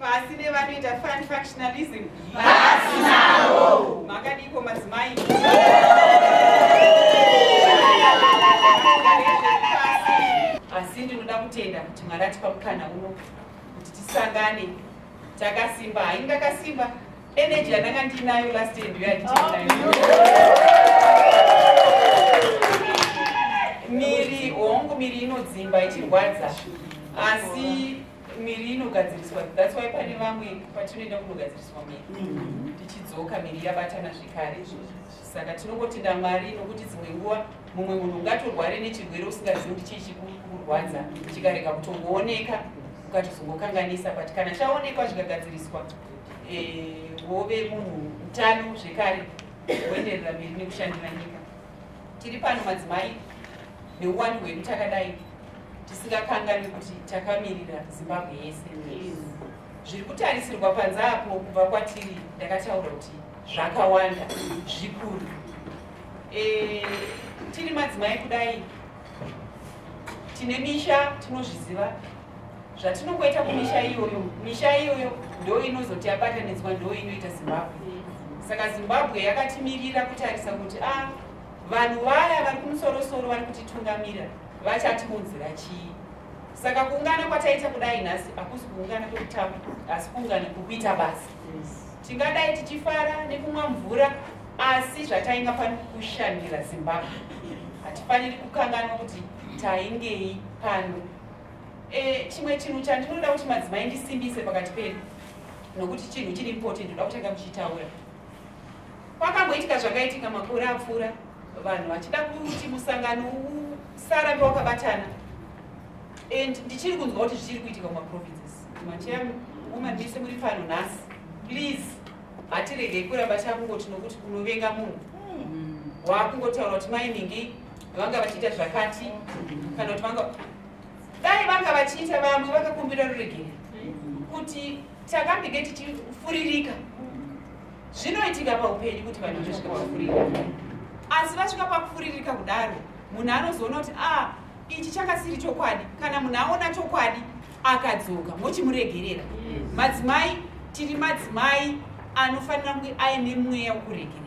pasi nevanoita fun functionalism pasi navo makadiko madzimai asi ndinoda kutenda kuti mwari atipa mukana uno kuti tisangane takasimba haingakasimba energy yandanga ndiinayo last day ndiyo yanditinayo miri hongu miri inodzimba ichirwadza asi miri inogadziriswa that's why pane vamwe patinoenda kunogadziriswa miri mm-hmm. tichidzoka miri yabatana zvekare saka tinongotenda mwari nokuti dzimwe nguva mumwe munhu ungatorware nechirwere usingazivi kuti chii chikurwadza chikarega kutongooneka ukatozongokanganisa but kana chaonekwa zvikagadziriswa eh, wove munhu utano zvekare woenderera mberi nekushandira nyika tiri pano madzimai neuwandu hwedu takadai tisingakanganwi kuti takamirira zimbabwe yese zviri kutarisirwa panze apo kubva kwatiri ndakataura kuti zvakawanda zvikuru e, tiri madzimai kudai tine misha tinozviziva zvatinongoita kumisha iyoyo misha iyoyo ndo inozoti yabatanidzwa ndo inoita zimbabwe saka zimbabwe yakatimirira kutarisa kuti a ah, vanhu vaya vari kumusorosoro vari kutitungamira vachatiunzira chii saka kuungana kwataita kudai nhasi hakusi kuungana kwekutamba asi kuungana kwekuita basa tingadai tichifara nekumwa mvura asi zvatainga fani kushandira zimbabwe hatifaniri kukanganwa kuti taingei pano e, chimwe chinhu chandinoda kuti madzimai ndisimbise pakati pedu nokuti chinhu chiri important ndoda kutanga muchitaura kwakamboitika zvakaitika makore apfuura vanhu vachida kuti musangano usarambe wakabatana and ndichiri kunzwa kuti zvichiri kuitika mumaprovinces macheya woman mese muri pano nhasi please hatiregei kuramba takungoti nokuti kunovenga munhu hmm. waakungotaura kuti mai mingi vanga vachiita zvakati kana kuti vanga dai vanga vachiita vamwe vakakumbira ruregere kuti takambenge tichifuririka zvinoitika paupenyu kuti vanhu vasvika pakufuririka asi vasvika pakufuririka kudaro munhu anozoona kuti a ah, ichi chakasiri chokwadi kana munhu aona chokwadi akadzoka mochimuregerera madzimai tiri madzimai anofanira kunge aine mweya wokuregererana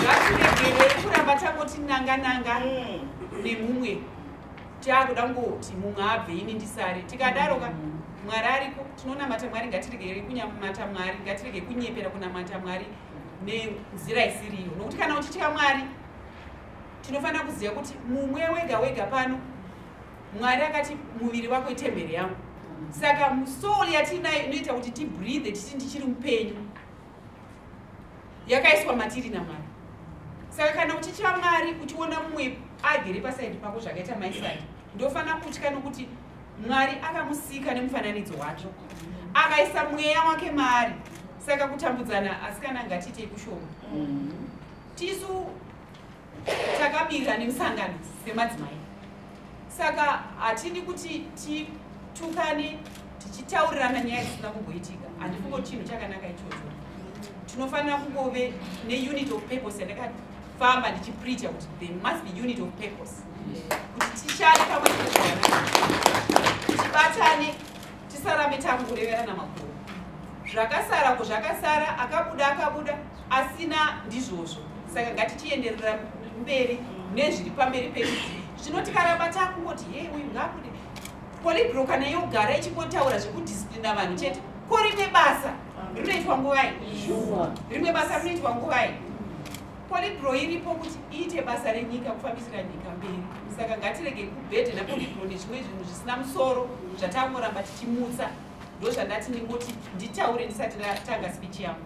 ngatiregerei kuramba tangoti nanga nanga nemumwe taakuda kungoti mumwe abve ini ndisare tikadaro ka mwari ariko tinonamata mwari ngatiregerei kunyamata mwari ngatirege kunyepera kunamata mwari nenzira isiriyo nokuti kana uchitya mwari tinofanira kuziva kuti mumwe wega wega pano mwari akati muviri wako itemberi yangu saka soul yatiinayo inoita kuti tibreathe tichiti ndichiri mupenyu yakaiswa matiri namwari saka kana uchitya mwari uchiona mumwe agere pasaidi pako zvakaita maisadi ndofanira kutya nokuti mwari akamusika nemufananidzo wacho akaisa mweya wake maari saka kutambudzana asikana ngatiitei kushoma mm -hmm. tisu takamirira nemusangano semadzimai saka hatidi kuti titukane tichitaurirana nyaya dzisina kumboitika handifungo chinhu chakanaka ichocho tinofanira kungove neunit of purpose yandakafamba ndichipreacha kuti there must be unit of purpose kuti tishande pamwe tibatane tisarambe takungoreverana makuru zvakasara ko zvakasara akabuda akabuda asina ndizvozvo saka ngatichienderera mberi nezviri pamberi pedu zvino tikaramba takungoti hei uyu ngakude polibroka neyogara ichingotaura zvekudisiplina vanhu chete ko rimwe basa rinoitwa nguvai rimwe basa rinoitwa nguvai polibro iripo kuti iite basa renyika kufambisira nyika mberi saka ngatirege kubhedhe napolibro nezvimwe zvinhu zvisina musoro zvatangoramba tichimutsa ndozvandati ndingoti nditaure ndisati ndatanga speech yangu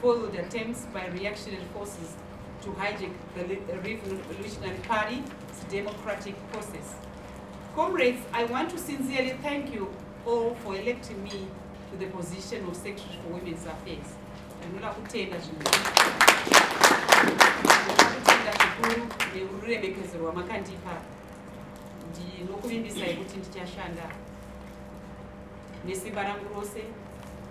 foiled attempts by reactionary forces to hijack the Revolutionary Party's democratic process. Comrades, I want to sincerely thank you all for electing me to the position of Secretary for Women's Affairs. ndinoda kutenda zvinokutenda zvikuru neururemekedzo rwamakandipa ndinokuvimbisai kuti ndichashanda nesimba rangu rose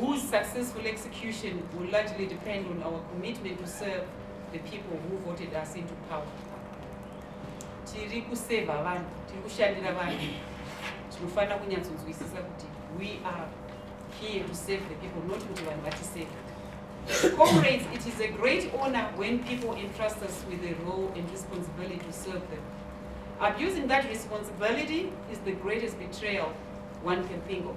whose successful execution will largely depend on our commitment to serve the people who voted us into power tiri kuseva vanhu tiri kushandira vanhu tinofanira kunyatsonzwisisa kuti we are here to serve the people not kuti vanhu vatiseva comrades it is a great honor when people entrust us with a role and responsibility to serve them abusing that responsibility is the greatest betrayal one can think of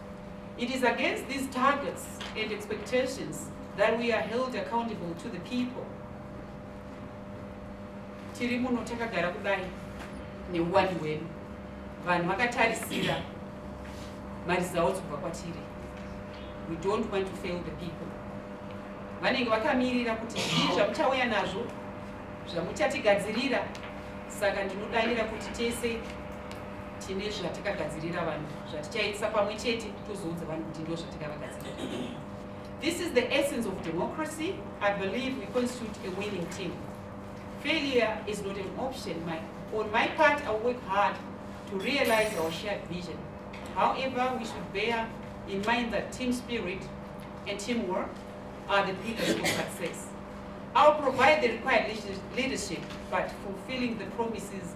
It is against these targets and expectations that we are held accountable to the people. Tiri muno takagara kudai neuwani hwedu. Vanhu vakatarisira maresults kubva kwatiri. We don't want to fail the people. Vanenge vakamirira kuti zvii zvamuchauya nazvo zvamuchatigadzirira saka ndinodanira kuti tese tine zvatikagadzirira vanhu zvatichaisa pamwe chete tozoudza vanhu kuti ndo zvatikavagadzirira this is the essence of democracy i believe we constitute a winning team failure is not an option my, on my part i work hard to realize our shared vision however we should bear in mind that team spirit and teamwork are the pillars of success i'll provide the required leadership but fulfilling the promises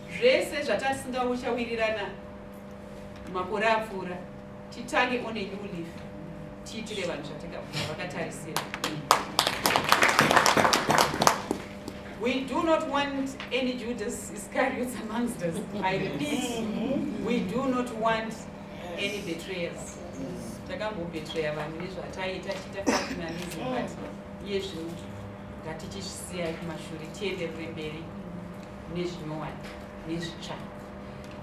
zvese zvatasinga uchawirirana makore apfuura titange on a new leaf tiitire vanhu zvatakavakatarisira We do not want any Judas Iscariots amongst us. I repeat, we do not want any betrayers. Takambobetreya vanhu nezvataita tiita patinanism but iye zvinhu ngatichisiyai kumashure tienderere mberi. nezvinyowani nezvitsva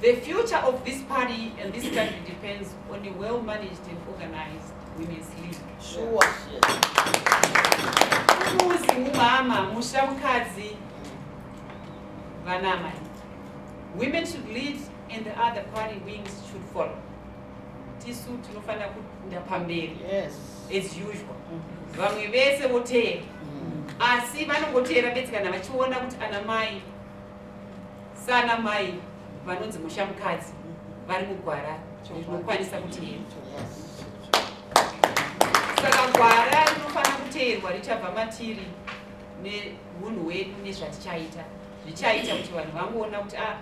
the future of this party and this country depends on a well managed and organized women's league sure. muzi mumama musha mukadzi vanamai women should lead and the other party wings should follow tisu tinofanira kukunda pamberi yes. as usual vamwe vese voteera mm. asi vanongoteera bedzi kana vachiona kuti ana mai sana mai vanonzi musha mukadzi vari mugwara rinokwanisa kuteera saka gwara rinofanira kuteerwa richabva matiri neunhu hwedu nezvatichaita zvichaita kuti vanhu vangoona kuti a ah,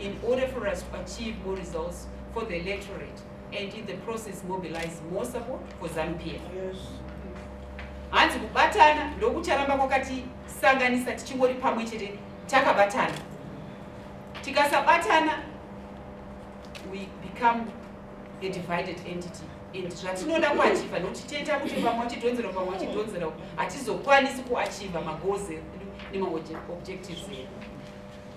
in order for us to achieve more results for the electorate and in the process mobilize more support for zanupf hanzi kubatana ndokucharamba kwakatisanganisa tichingori pamwe chete takabatana tikasabatana we become a divided entity and zvatinoda kuachiva nokuti tiita kuti pamwe chidhonzera pamwe chidhonzera hatizokwanisi kuachiva magoals nemauobjectives edu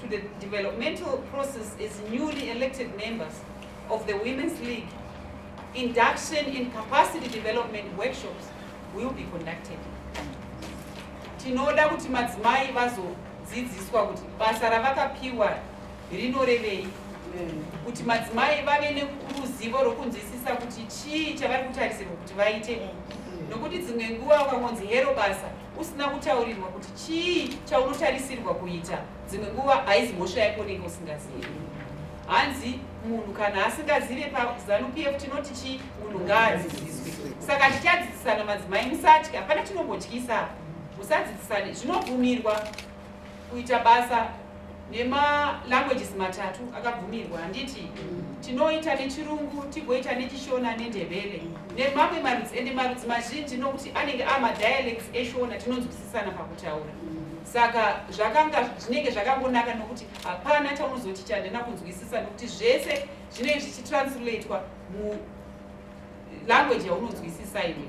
to the developmental process as newly elected members of the Women's League, induction and capacity development workshops will be conducted. Tinoda kuti madzimai vazodzidziswa kuti basa ravakapiwa rinorevei kuti madzimai vave neruzivo rwokunzwisisa kuti chii chavari kutarisirwa kuti vaite nokuti dzimwe nguva ukangonzi hero basa usina kutaurirwa kuti chii chaunotarisirwa kuita dzimwe nguva haizi mhosva yako unenge usingazivi hanzi munhu kana asingazive pazanupf e tinoti chii munhu ngaadzidziswe saka tichadzidzisana madzimai musatya hapana chinombotyisa musadzidzisane zvinobvumirwa kuita basa nemalanguages matatu akabvumirwa handiti tinoita nechirungu tigoita nechishona nendebele nemamwe marudzi ende marudzi mazhinji nokuti anenge amadialects eshona tinonzwisisana pakutaura saka zvakanga zvinenge zvakangonaka nokuti hapana chaunozoti chandina kunzwisisa nokuti zvese zvinenge zvichitransulatwa mulanguage yaunonzwisisa iwe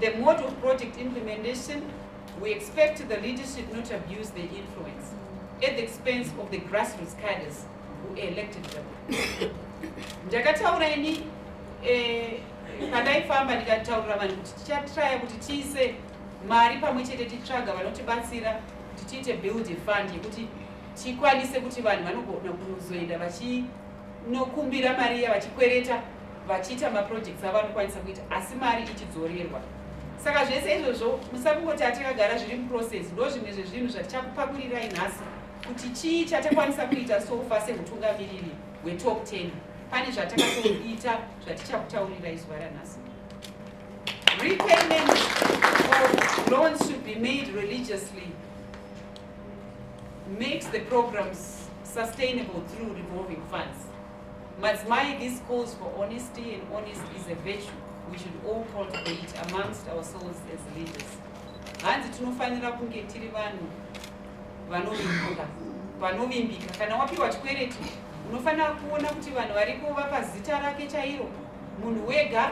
The mode of project implementation, we expect the leadership not to abuse their influence at the expense of the grassroots cadres who elected them. ndakataura ini eh, pandaifamba ndikataurira vanhu kuti tichatraya kuti tiise mari pamwe chete titsvaga vanotibatsira kuti tiite build fund yekuti tikwanise kuti vanhu vanogona kuzoenda vachi nokumbira mari iya vachikwereta vachiita maprojects avo anokwanisa kuita asi mari ichidzorerwa saka zvese izvozvo musakungoti atakagara zviri muprocess ndo zvimwe zvezvinhu zvatichakupakurirai nhasi kuti chii chatakwanisa kuita sofa sehutungamiriri hwetop 10 pane zvatakatoita zvatichakutaurirai zuva ranhasi repayment of loans should be made religiously makes the programs sustainable through revolving funds. Mazmai, this calls for honesty, and honesty is a virtue we should all cultivate amongst ourselves as leaders. hanzi tinofanira kunge tiri vanhu vanovimbika vanovimbika kana wapiwa chikwereti unofanira kuona kuti vanhu variko vapa zita rake chairo munhu wega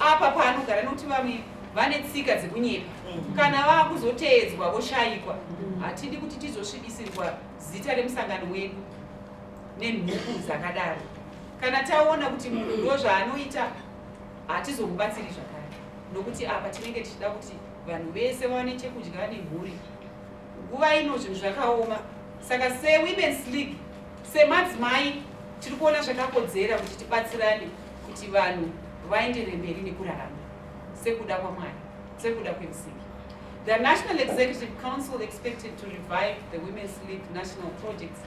apa paanogara nokuti vamwe vane tsika dzekunyepa mm. kana vakuzoteedzwa voshayikwa mm. hatidi kuti tizosvibisirwa zita remusangano wedu nenhuku dzakadaro kana taona kuti munhu ndo zvaanoita hatizomubatsiri zvakare nokuti apa tinenge tichida kuti vanhu vese vawane chekudya nemhuri nguva ino zvinhu zvakaoma saka sewomens league semadzimai tiri kuona zvakakodzera kuti tibatsirane kuti vanhu vaendere mberi nekurarama sekuda kwamwari sekuda kwemusingi the national executive council expected to revive the women's league national projects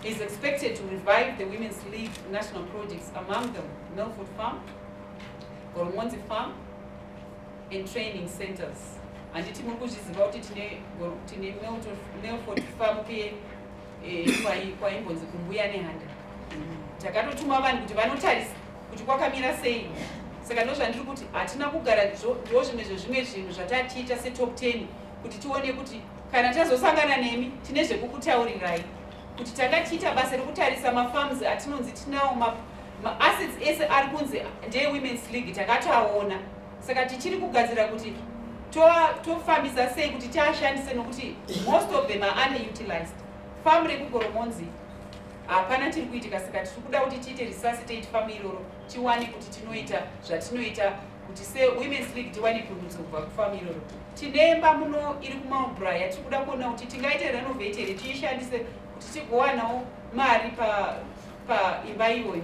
is expected to revive the women's league national projects among them milford farm goromonzi farm and training centers handiti muri kuzviziva kuti tine milford farm kuye eh, kwaimbonzi kumbuya nehanda takatotuma vanhu kuti vanotarisa kuti kwakamira sei saka ndozvandiri kuti hatina kugara ndiwo zvimwe zvezvimwe zvinhu zvatatiita setop ten kuti tione kuti kana tazosangana nemi tine zvekukutaurirai kuti tanga tiita basa rekutarisa mafarms atinonzi tinawo maassets ese ari kunzi ndeewomen's league takatoaona saka tichiri kugadzira kuti tofambisa to sei kuti tiashandise nokuti most of them are underutilized famu rekugoromonzi hapana tiri kuitika saka tiri kuda kuti tiite resuscitate famu iroro tiwane kuti tinoita zvatinoita kuti se women's league tiwane pundutso kubva kufamu iroro tine mba muno iri kumaubra yatiri kuda kuona kuti tingaite renovate here tiishandise kuti tigowanawo mari paimba pa iyoyo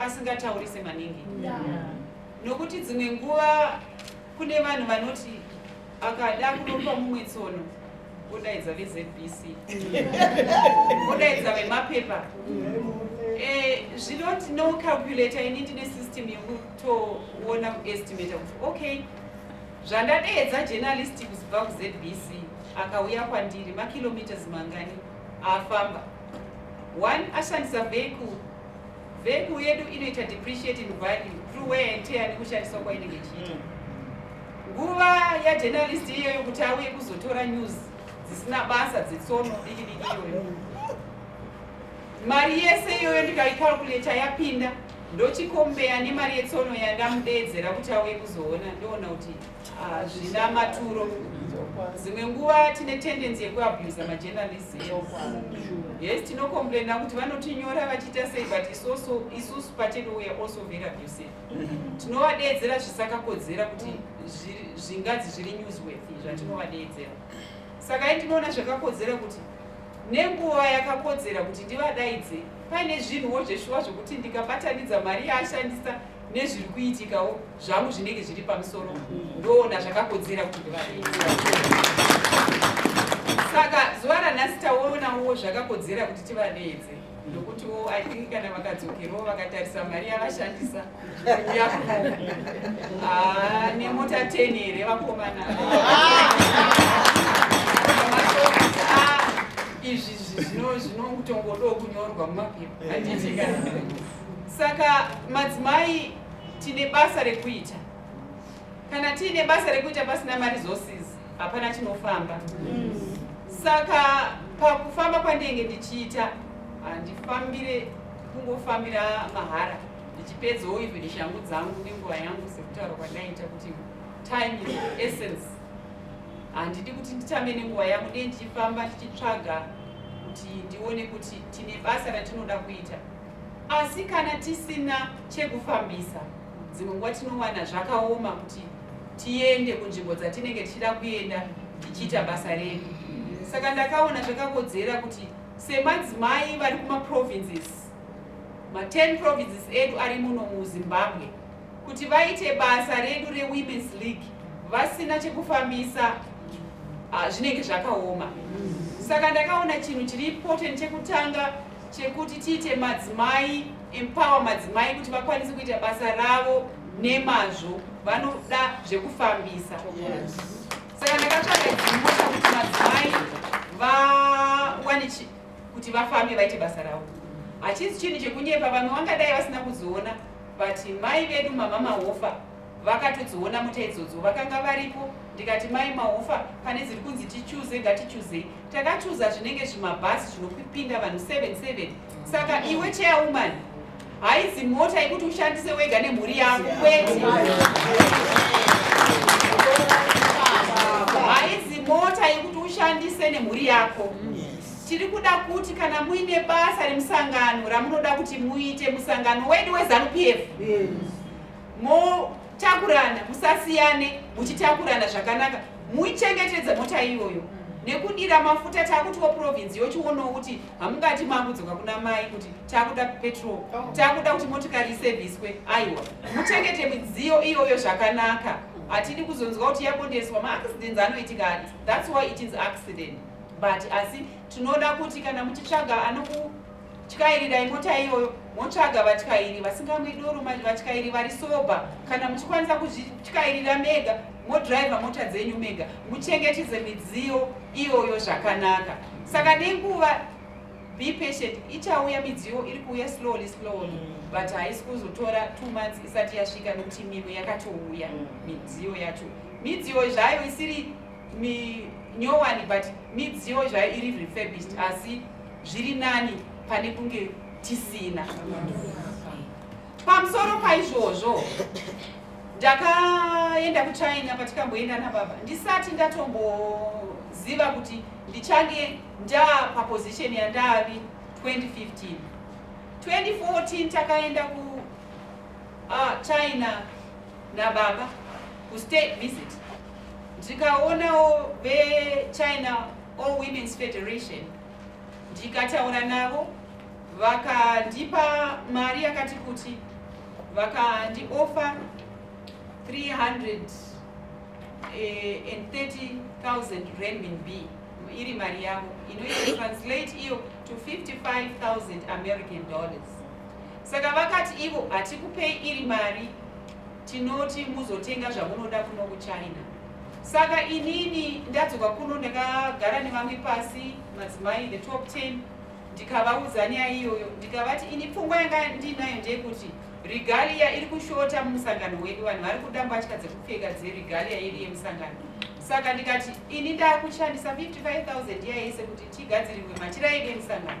asingataurise maningi nokuti dzimwe nguva kune vanhu vanoti akada kunopa mumwe tsono odaidza vezbc odaidza vemapepa eh, zvinoti no calculator ini ndine system yekutoona kuestimata kuti okay zvandadeedza journalist kuzibva kuzbc akauya kwandiri makilometers mangani afamba one ashandisa vehicle Veku yedu inoita depreciate in value through wear and tear nekushandiswa kwainenge ichiita. Mm. Nguva yajournalist iyoyo kuti auye kuzotora news dzisina basa dzetsono diki diki iyoyo. Mari yese iyoyo ndikaikalkuleta yapinda ndochikombeya nemari yetsono yandamudeedzera kuti auye kuzoona ndoona kuti Ah, zvina maturo dzimwe nguva tine tendency yekuabusa majournalist yes tinocomplaina kuti vanotinyora vachiita sei but isoso isusu pachedu we are also very abusive tinovadeedzera zvisakakodzera kuti zvingadzi zviri newsworth zvatinovadeedzera saka i tinoona zvakakodzera kuti nenguva yakakodzera kuti ndivadaidze paine zvinhuwo zveshuwa zvokuti ndikabatanidza mari yaashandisa nezviri kuitikawo zvangu zvinenge zviri pamusoro ndoona zvakakodzera kuti ndivareedze saka zuva ranhasi taonawo zvakakodzera kuti tivareedze ndokutiwo i think kana vakadzokerawo vakatarisa mari yavashandisa kuuya ah, nemota ten here vakomana ah, izvi zvinotongodo kunyorwa mumapepa anditika saka madzimai tine basa rekuita kana tiine basa rekuita pasina maresources hapana chinofamba saka pakufamba kwandinenge ndichiita handifambire kungofambira mahara ndichipedzawo ive neshangu dzangu nenguva yangu sekutaura kwandaita kuti time is essence handidi kuti nditambe nenguva yangu ndiye ndichifamba tichitsvaga kuti ndione kuti tine basa ratinoda kuita asi kana tisina chekufambisa dzimwe nguva tinowana zvakaoma kuti tiende kunzvimbo dzatinenge tichida kuenda tichiita basa redu saka ndakaona zvakakodzera kuti semadzimai vari kumaprovinces ma10 provinces edu ari muno muzimbabwe kuti vaite basa redu rewomens league vasina chekufambisa ah, zvinenge zvakaoma saka ndakaona chinhu chiri important chekutanga chekuti tiite madzimai empower madzimai kuti vakwanise kuita basa ravo nemazvo vanoda zvekufambisa saka ndakatsvaga dzimota kuti madzimai vawane kuti vafambe vaite basa ravo hachisi chinhu chekunyepa vamwe vangadai vasina kuzoona but mai vedu mamama hofa vakatodziona mota idzodzo vakanga varipo ndikati mai mahufa pane dziri kunzi tichuze ngatichuzei takachuza zvinenge zvimabhasi zvinopinda vanhu 77 saka iwe chairwoman haizi mota yekuti ushandise wega nemhuri yako kwete haizi mota yekuti ushandise nemhuri yako tiri kuda kuti kana muine basa remusangano ramunoda kuti muite musangano wedu wezanu p f yes. motakurana musasiyane muchitakurana zvakanaka muichengetedze mota iyoyo nekudira mafuta takutiwo province yochionawo kuti hamungati mangudzoka kuna mai kuti takuda petrol oh. takuda kuti motikari iseviswe aiwa muchengete midziyo iyoyo zvakanaka hatidi kuzonzwa kuti yabondeswa maaccidents anoitika ati thats why it is accident but asi tinoda kuti kana muchitsvaga anoku tyairira imota iyoyo motsvaga vatyairi vasingamwi doro vatyairi vari soba kana muchikwanisa kuzvityairira mega modriver mota dzenyu mega muchengetedze midziyo iyoyo zvakanaka saka nenguva be patient ichauya midziyo iri kuuya slowly slowly mm. but haisi kuzotora two months isati yasvika nekuti mimwe yakatouya mm. midziyo yacho midziyo zvayo isiri minyowani but midziyo zvayo iri refurbished asi zviri nani pane kunge tisina pamusoro paizvozvo ndakaenda kuchina patikamboenda nababa ndisati ndatomboziva kuti ndichange ndaa paposition yandavi 2015 2014 takaenda kuchina ah, uh, nababa kustate visit ndikaonawo vechina all women's federation ndikataura navo vakandipa mari yakati kuti vakandiofa 330,000 eh, renminb iri mari yavo inoita translate iyo to 55,000 american dollars saka vakati ivo hatikupei iri mari tinoti muzotenga zvamunoda kuno kuchina saka inini ndadzoka kuno ndakagara nevamwe pasi madzimai the top 10 ndikavaudza nyaya iyoyo ndikavati ini pfungwa yanga ndiinayo ndeyekuti regalia iri kushota mumusangano wedu vanhu vari kuda mbatya dzekupfeka dzeregalia iri yemusangano saka ndikati ini ndakushandisa 55000 iya yese kuti tigadzirirwe matiraidi emusangano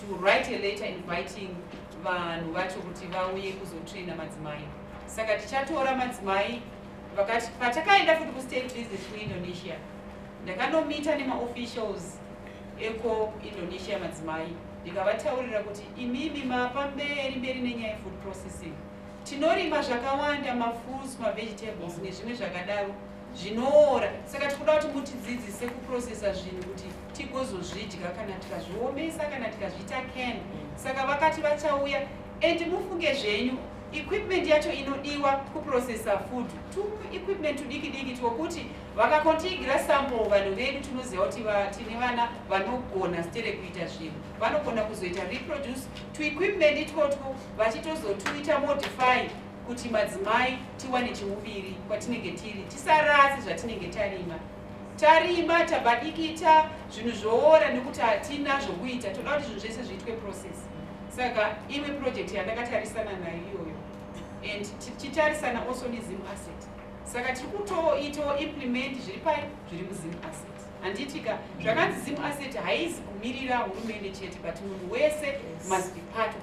to write a letter inviting vanhu vacho kuti vauye kuzotraina madzimai saka tichatora madzimai vakati patakaenda futi kustate visit kuindonesia ndakanomita nemaofficials eko indonesia madzimai ndikavataurira kuti imimi mapa mberi mberi nenyaya food processing tinorima zvakawanda mafruits mavegetables nezvimwe zvakadaro zvinoora saka tikuda kuti mutidzidzise kuprocessa zvinhu kuti tigozozvidya kana tikazviomesa kana tikazviita can saka vakati vachauya and mufunge zvenyu equipment yacho inodiwa kuprocessa food tu equipment tudiki diki twokuti vakakontigira sample vanhu vedu tinoziva kuti tine vana vanogona stere kuita zvinhu vanogona kuzoita reproduce tuequipment itwotwo vachitozotuita modify kuti madzimai tiwane chiuviri kwatinenge tiri tisarasi zvatinenge tarima tarima tabadikita zvinhu zvoora nekuti hatina zvokuita toda kuti zvinhu zvese zviitwe process saka imwe project yandakatarisana nayo iyoyo and tichitarisana also nezim asset saka tiri kutoitawo implement zviri pai zviri muzim asset handiitika zvakanzi zim asset haizi kumirira hurumende chete but munhu wese must be part of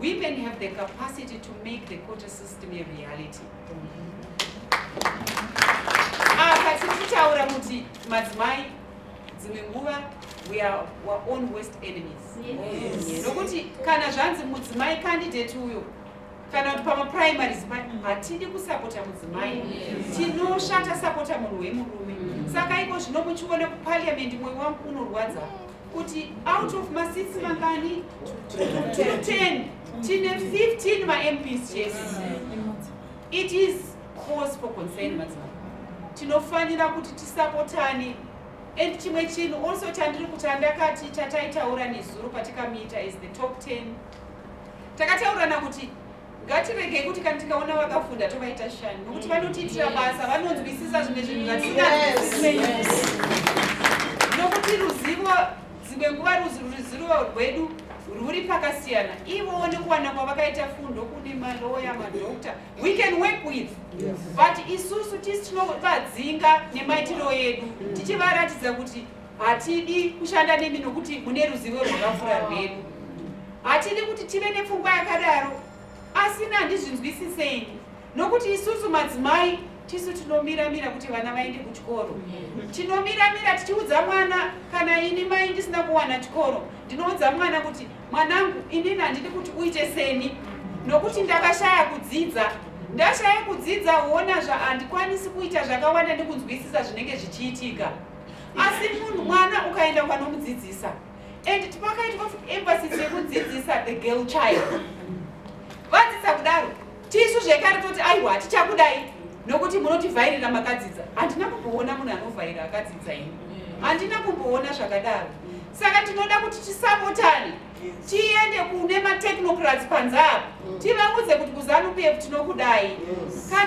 Women have the capacity to make the quota system a reality. Apa ah, tichitaura kuti madzimai dzimwe nguva we are our own worst enemies. Nokuti kana zvanzi mudzimai candidate uyo kana kuti pamaprimaries hatidi kusapota mudzimai tinoshata sapota munhu wemurume saka iko zvino muchiona kupariamendi mwoyo wangu unorwadza kuti out of masisi mangani 210 tine 15 mamps chese it is cause for concern madzimai tinofanira kuti tisapotane and chimwe chinhu also chandiri kuti andakati chataitaura nezuro patikamiita as the top 10 takataurirana kuti ngatiregei kuti kana tikaona vakafunda tovaita shani nokuti vanotiitira basa vanonzwisisa zvimwe zvinhu zvatisingazwisisi nokuti ruzivo dzimwe nguva ruzivo rwedu rwuri pakasiyana ivowo nekuwana kwavakaita fundo kune maloya madokta we can work with but isusu tisi tinovadzinga nemaitiro edu tichivaratidza kuti hatidi kushanda nemi nokuti mune ruzivo rwakapfuura rwedu hatidi kuti tive nepfungwa yakadaro asi nandizvinzwisisei nokuti isusu madzimai tisu tinomiramira kuti vana vaende kuchikoro tinomiramira tichiudza mwana kana ini mai ndisina kuwana chikoro ndinoudza mwana kuti mwanangu inini handidi kuti uite seni nokuti ndakashaya kudzidza ndashaya kudzidza huona zvahandikwanisi kuita zvakawanda nekunzwisisa zvinenge zvichiitika asi munhu mwana ukaenda kwanomudzidzisa and tipakaitwa emphasis yekudzidzisa the girl child vadzidza kudaro tisu zvekare toti aiwa hatichakudai nokuti munotivhairira makadzidza handina kumboona munhu anovhaira akadzidza ini handina kumboona zvakadaro saka tinoda kuti tisapotane tiende kune matechnocrats panze apo tivaudze kuti kuzanupf tinokudai kana